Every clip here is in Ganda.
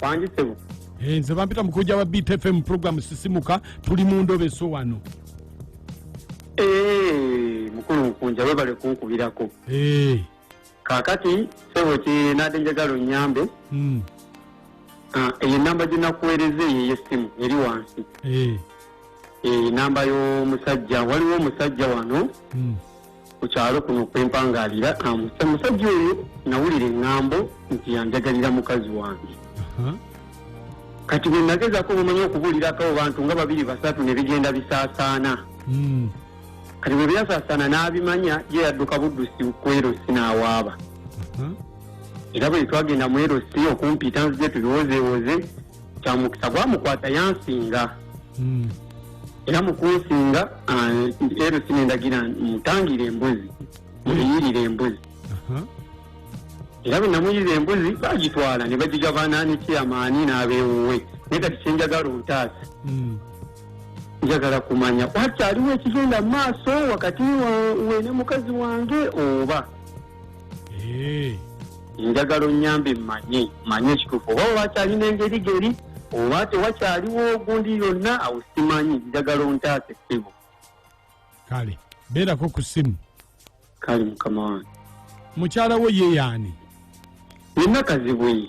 Wangi sebo. Eh, nze bampita mukujja wa Beat FM program sisimuka tuli mu ndobe so wano. Eh, mukulu mkunja webale kunkubirako. Eh. Kakati sebo ki nade njagala onyambe. Mm. Ah, eyo namba gye nakuweereza eyo ey'essimu eri wansi eh. eh, namba y'omusajja waliwo omusajja wano hmm. ku kyalo kuno kwempangaalira omusajja oyo nawulira eŋŋambo nti yanjagalira mukazi wange kati bwe nagezaako bumanya okubuulirako abo bantu nga babiri basatu ne bigenda bisaasaana hmm. kati bwe byasaasaana n'abimanya ye yadduka buddusi kwerosi n'awaaba era bwe twagenda mu erosi okumpita nzije tubiwozeewoze kyamukisa gwamukwata yansinga hmm. era mukunsinga ero sinendagira mutangire embuzi muyirire embuzi era bwe namuyirira embuzi bagitwala ne bagigabana ne kyamaani n'abeewuwe naye kati kyenjagala ontaasa hmm. njagala kumanya wakyaliwo ekigenda mu maaso wakati wene mukazi wange oba njagala onyambe mmanye manye ekituufu oba wakyalina engeri geri oba tewakyaliwo ogundi yonna awo simanyi njagala ontaasa essibu kale beerako ku ssimu kale mukama wange mukyala wo yeyaani yenna kazibwe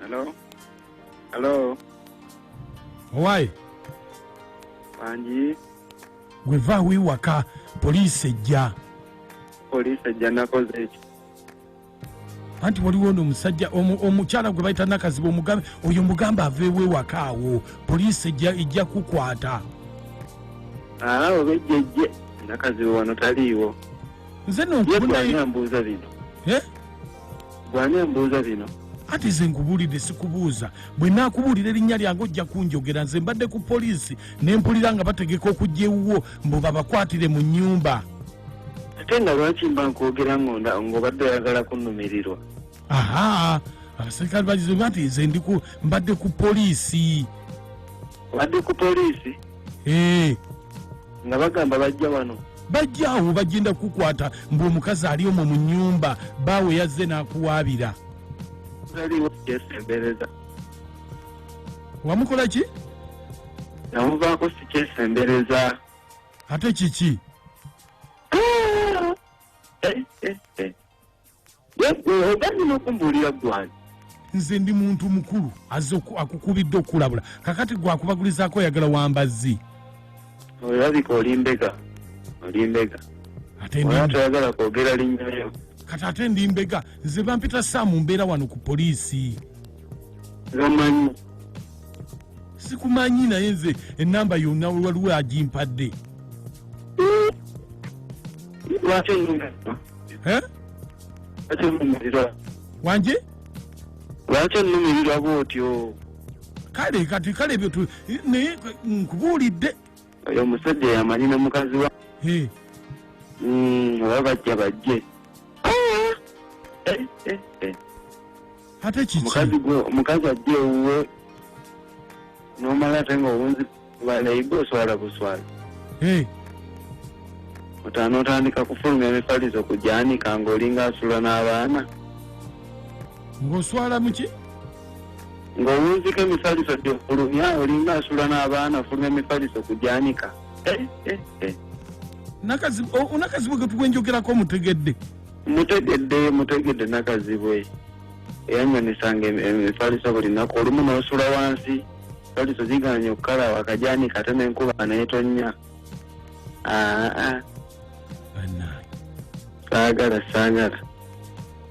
Hello? Hello? owaye Bangi, gwe vaawo ewaka poliisi ejja poliisi ejja nakoze eki? anti waliwo no omusajja omukyala gwe bayita nakaziba omugambe oyo mugamba aveewo ewaka awo poliisi ejja kukwata awo bejjejje nakaziba wano taliiwo nze nonkubunaambuuza bino eh? gwani ambuuza bino ati ze nkubuulidde sikubuuza bwe naakubuulira erinnya lyange ojja kunjogera nze mbadde ku poliisi ne mpulira nga bategeka okujja ewuwo mbu babakwatire mu nyumba ate nga lwaki mba nkwogera ng'onda ng'obadde oyagala kunumirirwa aha abaserikale bagize bati nze ndiku mbadde ku poliisi obadde ku poliisi ee nga bagamba bajja wano bajja awo bagenda kukwata mbu omukazi ali omwo mu nyumba baawe yazze n'akuwaabira taliwo yesembereza wamukola ki namuvaako sikyesembereza ate kiki oganyina okumbuulira gwani nze ndi muntu mukulu aze akukubidde okukulabula kakati gwakubagulizaako oyagala wambazzi olabika oli mbega oli mbega ate oba ndi toyagala kwogera linnya lyo kati ate ndi mbega nze bampita saamu mbeera wano ku poliisi gamanyi sikumanyi naye nze enamba yonna waliwo agimpadde lwaki onyumira Eh? lwaki onyumirirwa wanje lwaki onnumirirwa bw'otyo kale kati kale ebyo tu- naye nkubuulidde oyo omusajja yamanyi ne mukazi wa Eh, Mm, oba bajja bajje Ah! Eh, eh, eh. ate kiki omukazi gwe omukazi ajja ewuwe nomala ate nga owunzi Bwana Igwe oswala buswala. Hey. Otano otandika kufulumya emifalizo ku gyanika ng'olinga asula n'abaana. Ng'oswala mu ki? Ng'owunzika emifaliso gy'ofulumya olinga asula n'abaana ofulumya emifaliso ku gyanika. Eh, eh, eh. Unakazibu ke tukwenjogerako mutegedde. Mutegedde, mutegedde nakazibwe. Eyanywa nisanga emifaliso buli naku olumu n'osula wansi. Toli tuziganye okukala wakajani kate nenkuba netonya. Ah ah. Banaye. Sagala sagala.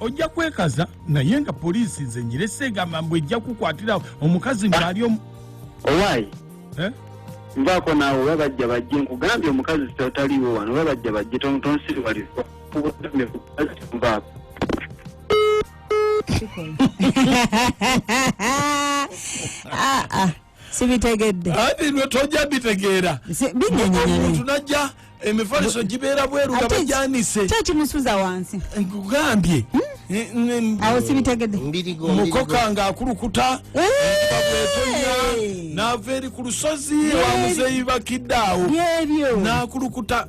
Ojja kwekaza naye nga poliisi nze nyirese egamba mbu ejja kukwatira omukazi ng'ali omu. Owayi. Eh? Mbako nawe oba bajja bajje nkugambye omukazi sitotaliwo wano oba bajja bajje tonsiriwaliza. Mbako. ah, ah. sibitegedde bino tojja bitegeera omuntu najja emifaliso gibeera bweru nga bajanise kyekimusuza wansi nkugambye hmm? eh, mm, awo sibitegedde mukoka nga akulukuta bwetonya naava eri ku lusozi wamuzeyi bakidde awo nakulukuta